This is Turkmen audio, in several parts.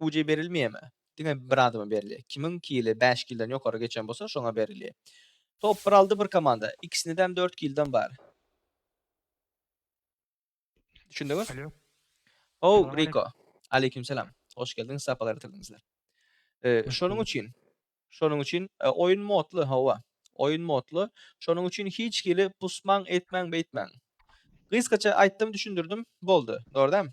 Uj berilmeýärmi? Diňe bir adama berilýär. Kimiň kili bäş kilden ýokary geçen bolsa, şoňa berilýär. Top bir aldy bir komanda. Ikisindem dört kilden bar. Düşündiňiz? Alo. Ho, Riko. Aleýkum salam. Hoş geldiňiz, sapalar getirdiňizler. E, şonuň üçin, şonuň üçin e, oýun modly, hawa. Oýun modly. Şonuň üçin hiç hili pusmaň, etmäň, beýtmäň. Gysgaça aýtdym, düşündirdim, boldy. Dogrudan.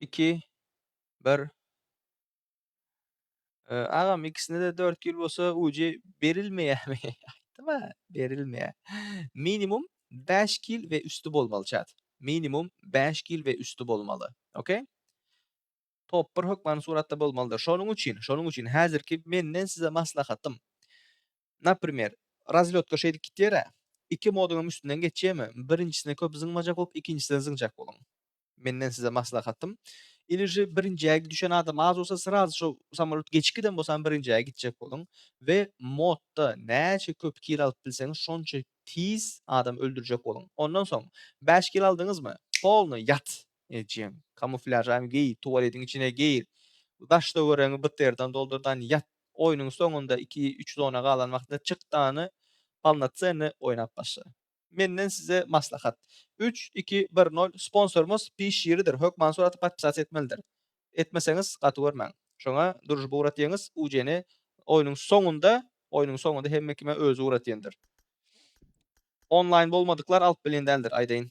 Iki. Bir. Ee, agam ikisine de 4 ýyl bolsa uji berilmeýärmi? Aýtma, berilmeýär. Minimum 5 ýyl we üsti bolmaly çat. Minimum 5 ýyl we üsti bolmaly. Okey? Top 1 hökmany suratda bolmalydyr. Şonuň üçin, şonuň üçin häzirki menden size maslahatym. Naprimer, razlýotka şeýdip gitýär-ä. Iki moduňam üstünden geçýärmi? Birinjisine köp zyňmajak bolup, ikinjisine zyňjak boluň. Menden size maslahatym. Iliji birinjä düşen adam az bolsa, srazy şo samolýot geçip giden bolsam birinjä gitjek boluň we modda näçe köp kilo alyp bilseňiz, şonça tiz adam öldürjek boluň. Ondan soň, bäş kilo aldyňyzmy, polny ýat! Ejeň, kamuflýažaňy geý, tualetiň içine gir, daş-töweregiňi bterdan doldur dan ýat. Oýnuň soňunda iki, üç zona galan wagtynda çyk dany polnocenny oýnap başla. Menden size maslahat. Üç, iki, bir, nol sponsorymyz pi şiridir hökman surata podpisasiýa etmelidir. Etmeseňiz gaty görmäň. Şoňa družba ugratyňyz ujeni oýnuň soňunda oýnuň soňunda hemme kime özi ugratýandyr. Onlaýn bolmadyklar alyp bilen däldir aýdaýyn.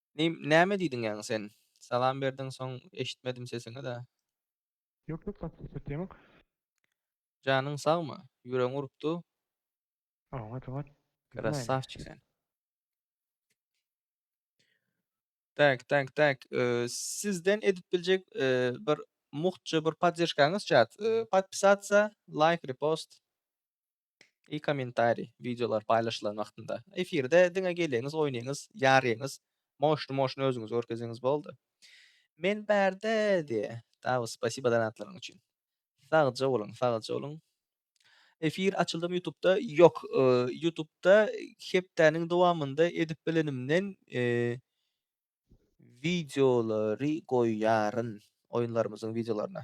Nim näme diýdiň ýaňy sen. Salam berdiň soň eşitmedim sesiňi-da. Ýok ýok gaty söhbet ýaňyk. Janyň sagmy? Ýüregiň urupdy. Oňat oňat. Krassavçik sen. Tak tak tak sizden edip biljek bir muhtja bir poddežkaňyz çat podpisatsa laýk repost. I kommentariý, wideolar paýlaşylan wagtynda, efirde diňe geleňiz, oýnaýyňyz, ýarýaňyz, moşny-moşny özüňizi görkeziňiz boldy. Men bärde diýe. Tawus, spasiba donatlaryň üçin. Sagja boluň, sagja boluň. Efir açyldymy ýutubda? Ýok, ýutubda hepdäniň dowamynda edip bilenimden wideolary goýýaryn, oýunlarymyzyň wideolaryny.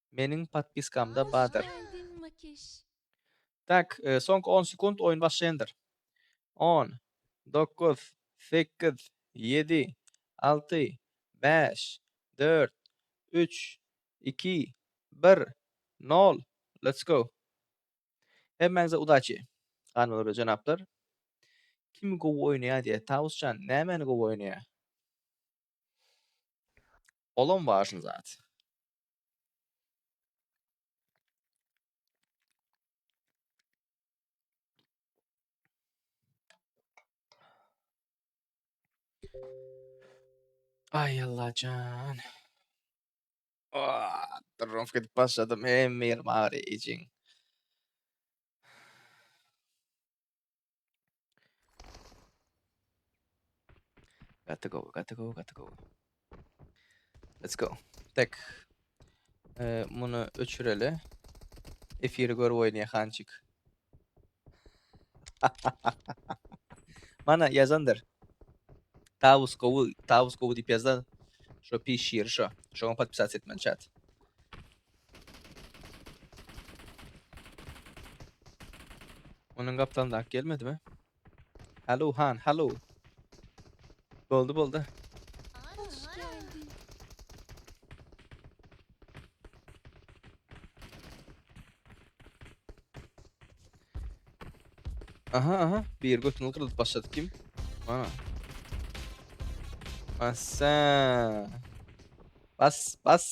Meniň podpiskamda bardyr. Tak, soňky on sekunt oýun başlaýandyr. On, dokuz, sekiz, ýedi, alty, bäş, dört, üç, iki, bir, nol, let's go! Hemmäňize udaçi, hanymlar we jenaplar! Kim gowy oýnaýar diýýär, Tawusjan nämäni gowy oýnaýar? Olam wažny zat. Ay Allah can. Aa, Durum gidip başladım. Hem bir mağara için. Got to go, got to go, got to go. Let's go. Tak. Ee, muny öçüreli. Efiri görüp oýnaýa hançyk. Mana ýazandyr. Tawus gowy, Tawus gowy diýip ýazan. Şo pişir şo. Şoňa podpisasiýa etmeli çat. Onuň gapdalyndaky gelmedimi? Halo han, halo. Boldy, boldy. Aha aha bir götünü kırılıp başladı kim? Bana. Asa. Bas bas.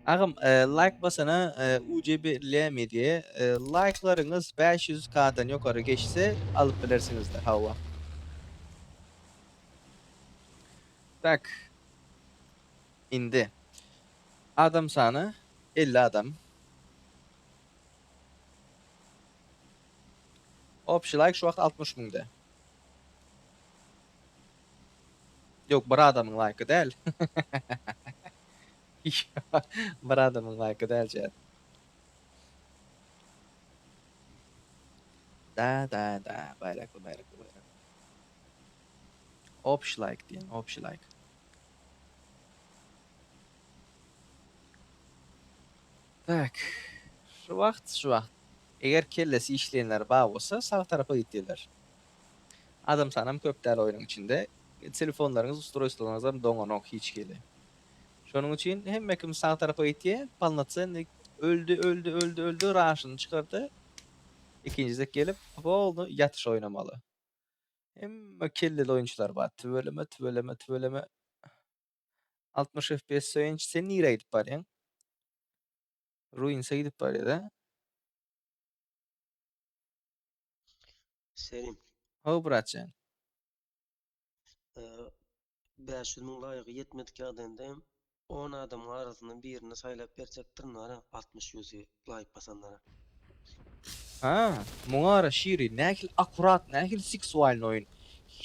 Agam like basana UCB ile media like'laryňyz 500k'dan ýokary geçse alyp bilersiňizdir hawa. Tak. Indi. Adam sany 50 adam. Opşi like şu wagt 60 müňde. Ýok bir adamyň laýky däl. Bir adamyň laýky däl jät. Da da da baýrakly baýrakly baýrakly. Obşi laýk diýen obşi laýk. Tak. Şu wagt şu wagt. Eger kellesi işleýänler bar bolsa sag tarapa git diýerler. Adam sanam köp däl oýnuň içinde. Telefonlaryňyz ustroýstwolaryňyzam doňanok hiç hili. Şonuň üçin hemme kim sag tarapa gitýä, polnocennyý öldi, öldi, öldi, öldi, raşyny çykardy. Ikinji gezek gelip, polny ýatyş oýnamaly. Hemme kelleli oýunçylar bar. Tüweleme, tüweleme, tüweleme. Altmyş FPS söýenç, sen nirä gidip barýaň? Ruinsa gidip barýa-da. Selim. Ho bratjan. Ee, 500 müň laýygy ýetmedik ýagdaýynda hem 10 adamyň arasyndan birini saýlap berjekdirin wara 60 ýüzi laýk basanlara. Ha, muňara şiri nähili akurat, nähili seksualny oýun.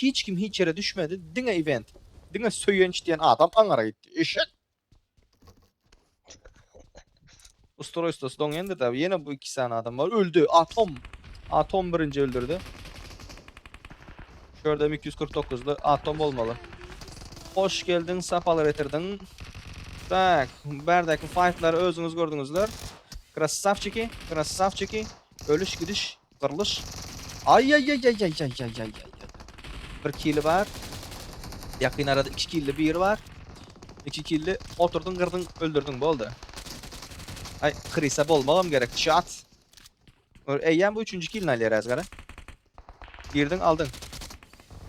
Hiç kim hiç ýere düşmedi, diňe event. Diňe söýenç diýen adam aňara gitdi. Eşek. Ustroýstosy doňýandyr da. Ýene bu iki sany adam bar. Öldi. Atom. Atom birinji öldürdi. Şu ýerde 249-ly atom bolmaly. Hoş geldiň, sapalar getirdiň. Tak, bärdäki faytlary özüňiz gördüňizler. Krassavçiki, krassavçiki. Ölüş gidiş. Gyrlyş. Aýýaýýaýýaýýaýýaýýaýýaýýaý. Bir kili bar. Ýakyn arada iki killi biri bar. İki killi oturdyň, gyrdyň, öldürdiň, boldy. Aý, Krisa bolmagam gerek, çat. Eýýäm bu üçünji kilini alýar häzir, gara. Girdiň, aldyň.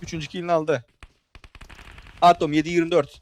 Üçünji kilini aldy. Atom 7-24.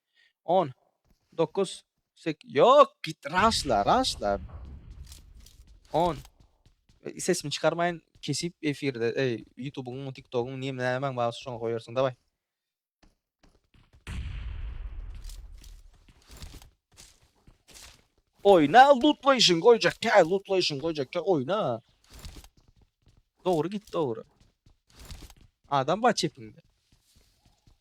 On. Dokuz. Sek. Ýok, git, raşla, raşla. On. Sesimi çykarmaýyn, kesip efirde, eý, ýutubyňmy, tiktogyňmy, näme, nämäň bar, şoňa goýarsyň, daway. Oýna, lutlaýşyň goýjak, kä, lutlaýşyň goýjak, kä, oýna. Dogry git, dogry. Adam bar çepiňde.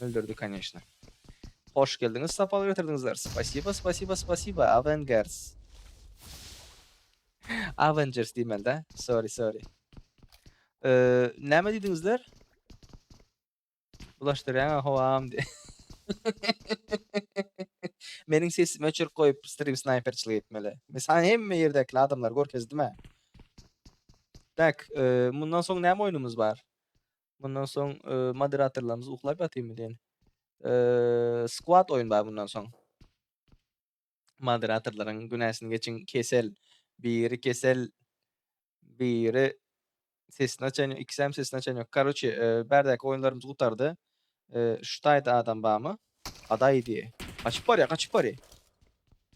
Öldürdi koneşna. Hoş geldiňiz, sapar getirdiňizler. Spasiba, spasiba, spasiba, Avengers. Avengers diýmeli-dä. Sorry, sorry. Eee, näme diýdiňizler? Bulaşdyrýaň-a howam diýip. Meniň sesimi öçürip goýup, stream snayperçilik etmeli. Men sana hemme ýerdäki adamlary görkezdim-ä. Tak, eee, mundan soň näme oýnumyz bar? Bundan soň e, moderatorlarymyz uklap ýatyrmy diýen. E, squad oýun bar bundan soň. Moderatorlaryň günäsini geçiň kesel. Biri kesel, biri sesini açan, ikisi hem sesini açan yok. Karoçe, e, berdäki oýunlarymyz gutardy. E, şu taýda adam barmy? Gaday diýe. Gaçyp barýa, gaçyp barýa.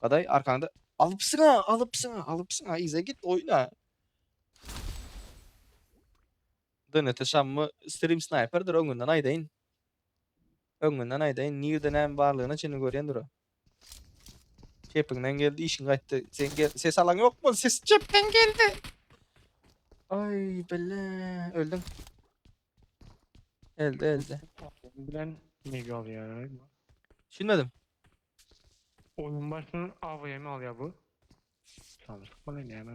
Gaday arkaňda alypsyň ha, alypsyň ha, alypsyň ha, ize git oýna. Donate şammy stream sniperdir öňünden aýdaýyn. Öňünden aýdaýyn nirde näme barlygyna çenli görýän dura. Kepiňden geldi işiň gaýtdy. Sen gel ses alaň ýokmy? Ses çepden geldi. Ay bile öldüm. Elde elde. Bilen ne galýar? Düşünmedim. Oyun başyndan AVM alýar bu. Sandyk bana näme?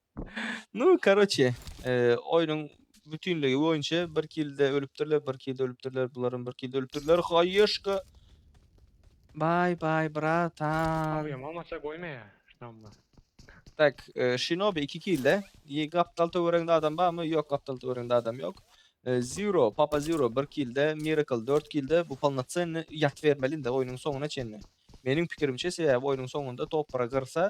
Nu, karoçe, oýnuň bütinligi boýunça bir kilde ölüpdirler, bir kilde ölüpdirler, bularam bir kilde ölüpdirler. Haýyşka. Bay bay bratan. Awyam amaça goýmaýa. Şamma. Tak, e, Shinobi 2 kilde. Ye gapdal töwereginde adam barmy? Ýok, gapdal töwereginde adam ýok. E, Zero, Papa Zero 1 kilde, Miracle 4 kilde. Bu polnocenny ýat bermeli indi oýnuň soňuna çenli. Meniň pikirimçe sebäbi oýnuň soňunda topara gyrsa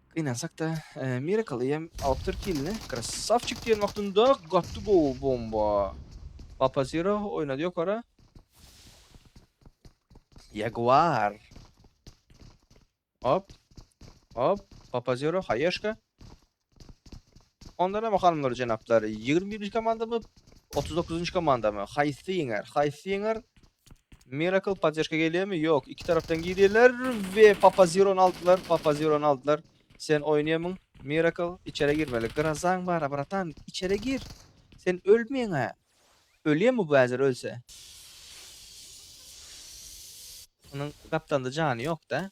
Gynansak-da, Miracle hem alyp dur kilini. Krasavçik diýen wagtynda gatdy gowy bomba. Papa Zero oýnady ýokara. Jaguar. Hop. Hop. Papa Zero haýeşka. Ondan hem hanymlar jenaplar 21-nji komandamy, 39-njy komandamy? Haýsy ýeňer? Haýsy ýeňer? Miracle podderşka gelýärmi? Ýok, iki tarapdan girýärler we Papa Zero-ny aldylar, Papa Zero-ny aldylar. Sen oýnaýamyň, Miracle, içere girmeli. Grazaň bar-a, bratan, içere gir. Sen ölmeýäň-ä. Ölýärmi bu häzir ölse? Munuň gapdalda jany ýok-da.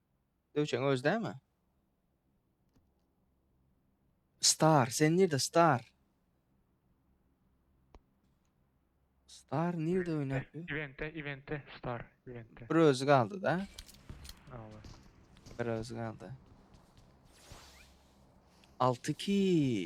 Döwçeň özi dämi? Star, sen nirde Star? Star nirde oynap ýör? Eventde, eventde, star, eventde. Bir özü kaldı da. Awa. Bir özü kaldı. 6 ki.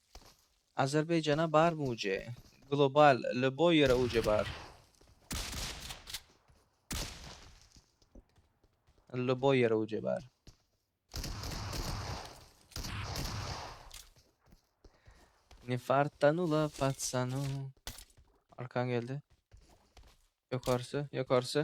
Azerbaýjana barmy uje? Global lýuboý ýere uje bar. Lýuboý ýere uje bar. Ne fartanula patsanu. Arkan geldi. Ýokarsy, ýokarsy.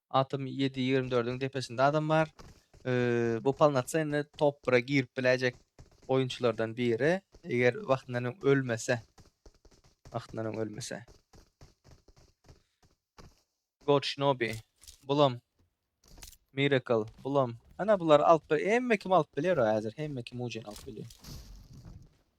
Atom ýedi ýigrimi dördüň depesinde adam bar. Bu polnocennyý top bire girip biläýjek oýunçylardan biri. Eger wagtyndan öň ölmese. Wagtyndan öň ölmese. God Shinobi. Bulam. Miracle. Bulam. Ana bular alyp bir. Hemme kim alyp biler o häzir. Hemme kim ucen alyp bilýär.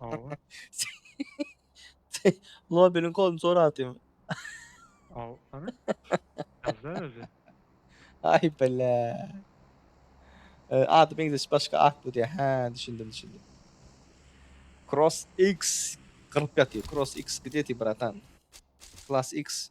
Hawa. Nobeliň koduny sorap atýaň. Hawa, hany? Ýazda özi. Aý bile. Ady meňzeş başga atly diýýär. Hä, düşündim, düşündim. Cross X gyryp ýatyr. Cross X gde ty bratan? Class X.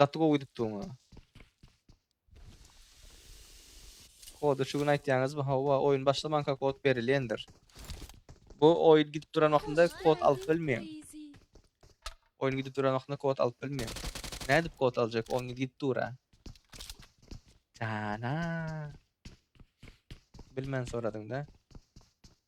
Gaty gowy gidipdiň a. Kody şu gün aýtýaňyzmy? Hawa, oýun başlamanka kod berilýändir. Bu oýun gidip duran wagtynda kod alyp bilmeýäň. Oýun gidip duran wagtynda kod alyp bilmeýäň. Nädip kod aljak? Oýun gidip dur-a. Jana. Bilmän soradyň-da.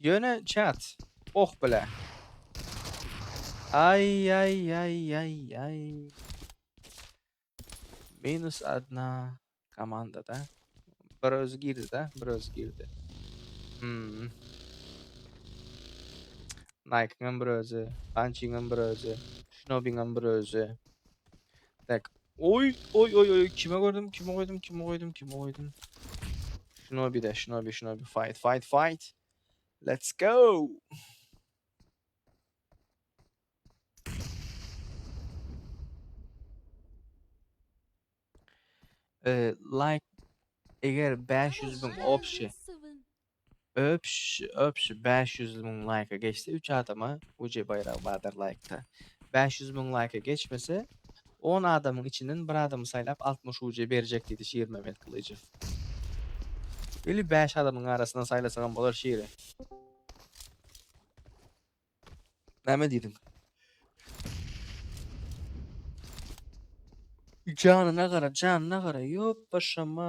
Ýöne chat. Oh bile. Ay ay ay ay ay. Minus adna komanda da. Bir özü girdi da, bir özü girdi. Hmm. Nike'ın bir özü, Punching'ın bir özü, Shinobi'nin bir özü. Tak, Oy, oy, oy, oy, kime gördüm, kime goydum, kime goydum, kime goydum. Şuna bir de, şuna bir, şuna bir, fight, fight, fight. Let's go. Ee, like, eğer 500 bin opsi, Öpş öpş bäş ýüz müň laýka geçse üç adama UC baýragy bardyr laýkda bäş ýüz müň laýka geçmese on adamyň içinden bir adamy saýlap altmyş UC berjek diýdi Şirmemmet Gylyjow ili bäş adamyň arasyndan saýlasagam bolar Şiri. Näme diýdiň? Janyna gara janyna gara ýop başama.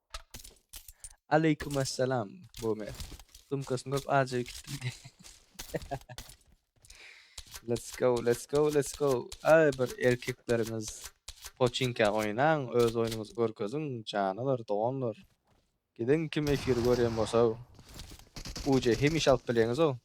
Aleýkum assalam Bomer. Sumkasyny görüp ajaýyp gitdim. let's go, let's go, let's go. Ay bir erkeklerimiz poçinka oýnaň, öz oýnuňyzy görkeziň, janalar, doganlar. Gidiň kim efiri görýän bolsa. Uje hemişe alyp bileňiz o.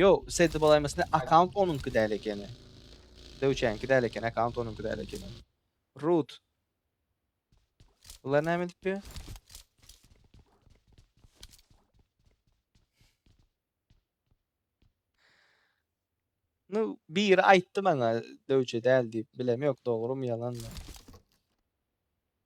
Ýok, Sedi bolaýmasyn akaunt onuňky däl ekeni. Döwçäňki däl ekeni, akaunt onuňky däl ekeni. Root. Bular näme edip ýör? Nu, biri aýtdy maňa döwçe däl diýip, bilem ýok dogrymy ýalanmy.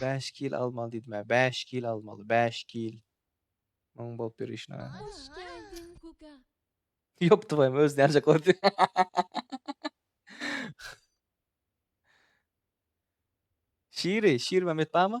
Bäş kil almaly diýdimä, bäş kil almaly, bäş kil. Muň bolup ýör işine. Hoş geldiň Kuka. Ýop tuwaýym özüni ýanjaklady. Şiri, Şirmämet barmy?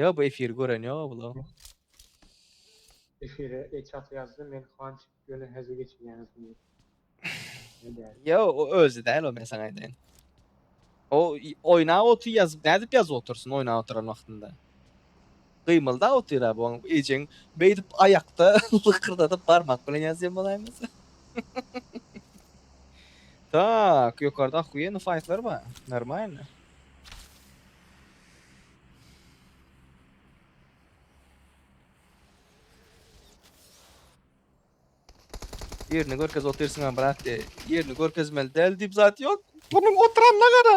Ýa bu efiri gören ýoga bula. Efire eçat ýazdy men hanç ýöne hezil geçirýäňiz diýip. Ýo o özi däl o men saňa aýdaýyn. O oýnap otyr ýazyp nädip ýazyp otursyn oýnap oturan wagtynda. Gymyldap otyr-a bu oň ejeň beýdip aýakda lykyrdadyp barmak bilen ýazýan bolaýmasa. Tak, ýokarda ohuýenli faýtlar bar. Normalno. Ýerini görkez otyrsyň-a brat diýýä. Ýerini görkezmeli däl diýip zat ýok. Munuň oturanyna gara.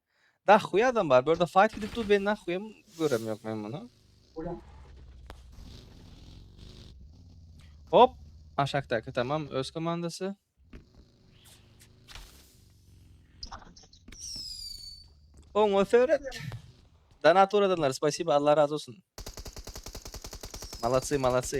Nahuý adam bar. Bu ýerde fight gidip dur. Ben nahuýam görem ýok men muny. Hop. Aşakdaky tamam öz komandasy. Oňa seret. Donat uradanlar, spasiba, Allah razı olsun. Malatsy, malatsy.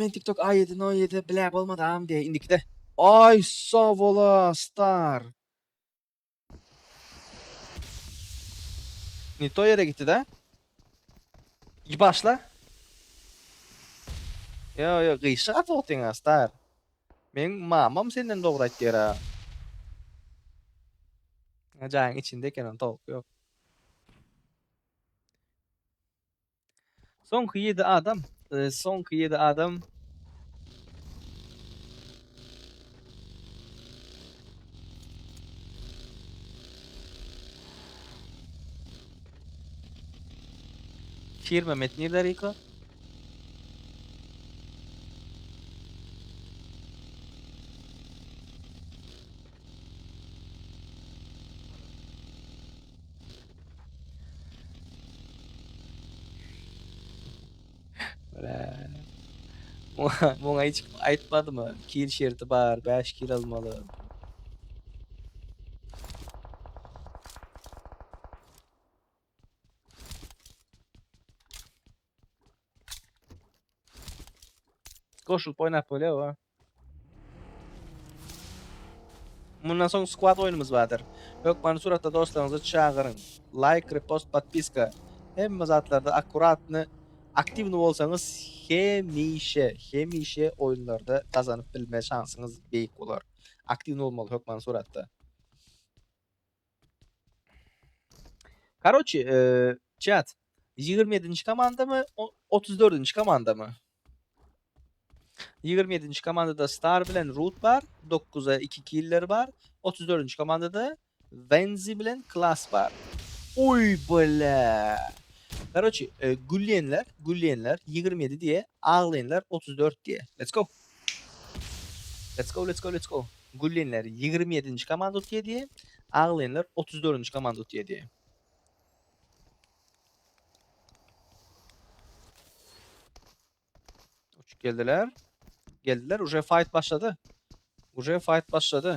Men tiktok a ýedi no ýedi bile bolmadam diýe indikide. Ay savola star. Ne to yere gitti da. İyi başla. Yo yo gıyşık at otyň star. Men mamam senden dogry aýtýar ha. Jaň içinde eken on tawuk yok. Soňky ýedi adam, e, soňky ýedi adam. Firma metni dariko. Muňa hiç aýtmadymy? Kil şerti bar, 5 kil almaly. Goşulyp oýnap bolýar, Mundan soň squad oýnumyz bardyr. Hökmany suratda dostlaryňyzy çagyryň. Laýk, repost, podpiska. Hemme zatlarda akkuratny, aktiwny bolsaňyz hemişe, hemişe oýunlarda gazanyp bilme şansyňyz beýik bolar. Aktiwny bolmaly hökmany suratda. Karoçi, çat. Ýigrimi ýedinji komandamy, otuz dördünji komandamy? Ýigrimi ýedinji komandada Star bilen Rut bar, dokguza iki killer bar. Otuz dördünji komandada Wenzi bilen Klas bar. Oý, bole! Karoçi, gülýänler, gülýänler, ýigrimi ýedi diýe, aglaýanlar, otuz dört diýe. Let's go! Let's go let's go let's go. Güllinler ýigrimi ýedinji komanda utýa diýe, aglaýanlar otuz dördünji komanda utýa diýe. Uçup geldiler. Geldiler. Uje fight başlady. Uje fight başlady.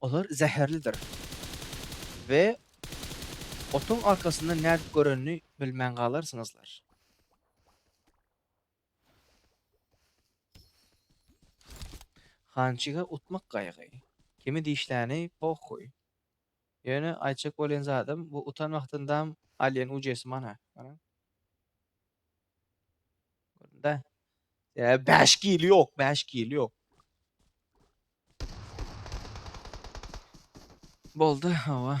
Olar zäherlidir. We otuň arkasynda nädip görenini bilmän galarsyňyzlar. Hançige utmak gaýgy. Kimi dişläni pohuý. Ýöne aýtjak bolýan zadym, bu utan wagtyndam alýan ujesi mana. Göründe. Ee, beş kili yok, beş kili yok. Boldu, hava.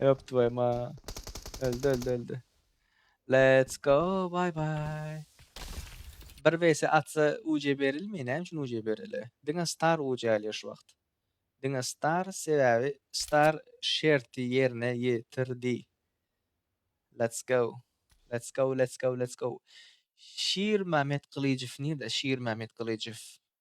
Öp tvoýu ma. Öldi, öldi, öldi. Let's go, bye bye. Bir vs atsa UC berilmi? Näme üçin UC bereli? Diňe star UC alýar şu wagt. Diňe star sebäbi star şerti ýerine ýetirdi. Let's go. Let's go, let's go, let's go. Şir Mämet Gylyjow nirde? Şir Mämet Gylyjow.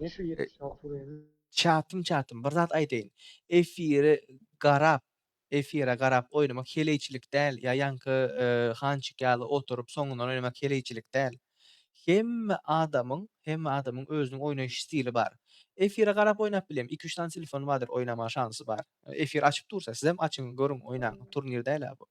Ne şu 76 buraya? Çatym çatym bir zat aýdaýyn. Efiri garap, efire garap oýnamak heleýçilik däl, ýa ýaňky e, hançyk ýaly oturyp soňundan oýnamak heleýçilik däl. Hemme adamyň, hemme adamyň özüniň oýnaýyş stili bar. Efire garap oýnap bileýin, iki-üç sany telefon bardyr, oýnamaga şansy bar. Efir açyp dursa, sizem açyň, görüň, oýnaň. Turnir däl-ä bu.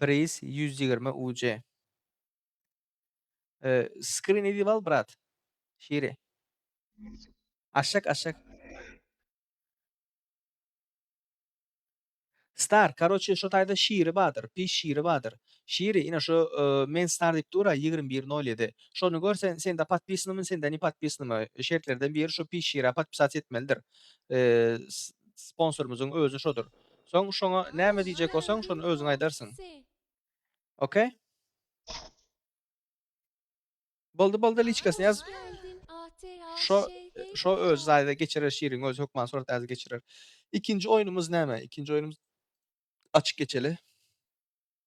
Priz ýüz ýigrimi UC. Skrin edip al brat. Şiri. Aşak aşak. Star, karoçe şo taýda şiri badyr, pis şiri badyr. Şiri, ine şo men star diýip dur-a ýigrimi bir nol ýedi. Şony gör sen, sende podpisanymy, sende ne podpisanymy. Şertlerden biri şo pis şira podpisat etmelidir. Sponsorymyzyň özi şodur. Soň şoňa näme diýjek bolsaň şony özüň aýdarsyň. Ok. Boldy boldy liçkasyny ýaz. Şo şo öz zaýda geçirer şirin öz hökman surat äzi geçirer. Ikinji oýnumyz näme? Ikinji oýnumyz açyk geçeli.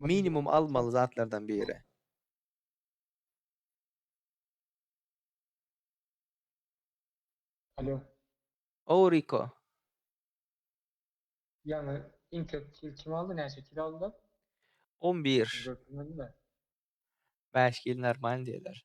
Minimum almaly zatlardan biri. Alo. Ow Riko. Ýaňy Intel kil kim aldy? Näçe kil aldylar? 11. Görkezmediler. Bäş kil normal diýdiler.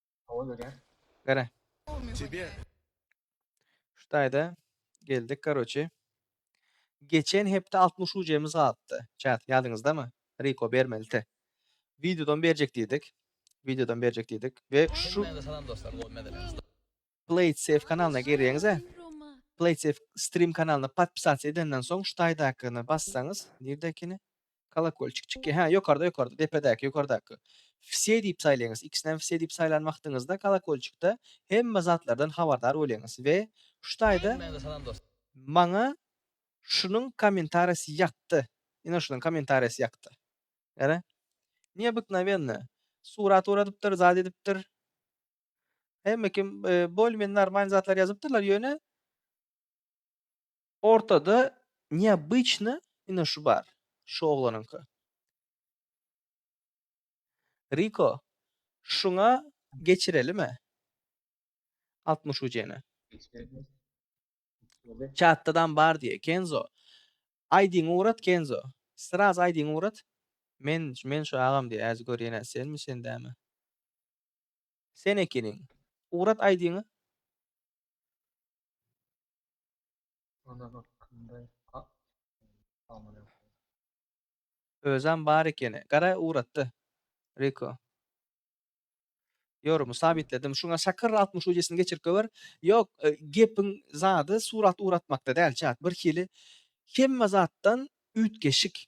Hava görýär. Gara. Тебе. Şu taýda geldik karoçi. Geçen hepde 60 ujemiz galypdy. Çat ýadyňyzdamy? Riko bermelite. Videodan berjek diýdik. Videodan berjek diýdik we şu Salam dostlar. PlaySafe kanalyna girýäňiz-ä. PlaySafe stream kanalyna podpisasiýa edenden soň şu taýdakyna bassaňyz, nirde ekeni? Kolokolçik çykyr. Hä, ýokarda, ýokarda, depedäki, ýokardaky. Wse diýip saýlaýňyz. Ikisinem wse diýip saýlan wagtyňyzda kolokolçikde hemme zatlardan habardar bolýaňyz we şu taýda Maňa şunuň kommentariýasy ýakdy. Ine şunuň kommentariýasy ýakdy. Ýa-da Neobyknowenno. Surat oradypdyr, zat edipdir. Hemme kim bolmen normal zatlar ýazypdyrlar ýöne ortada neobычny ine şu bar. Şu oglanyňky. Riko şuňa geçirelime? 60 ucene. Çatdadan bar diye Kenzo. Aýdyň urat Kenzo. Sraz aýdyň urat. Men men şu agam diye az görýän sen mi sen dämi? Sen ekeniň. Ugrat aýdyňy. Ana hakkynda a amana. Özem bar ekeni. Gara Ugratda. Riko. Ýorumy sabitledim. Şuňa şakyr altmyş ujesini geçirip gower. Ýok, gepiň zady surat ugratmakda däl çat. Birhili hemme zatdan üýtgeşik.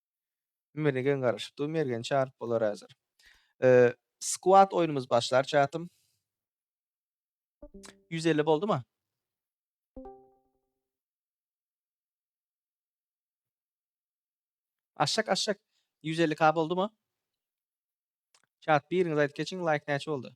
Meni geň garaşyp dur Mergen çaryp bolar hazir. Squad oýnumyz başlar çatym. 150 boldu mu? Aşak aşak 150k boldu mu? Çat biriňiz aýdyp geçiň like näçe boldu?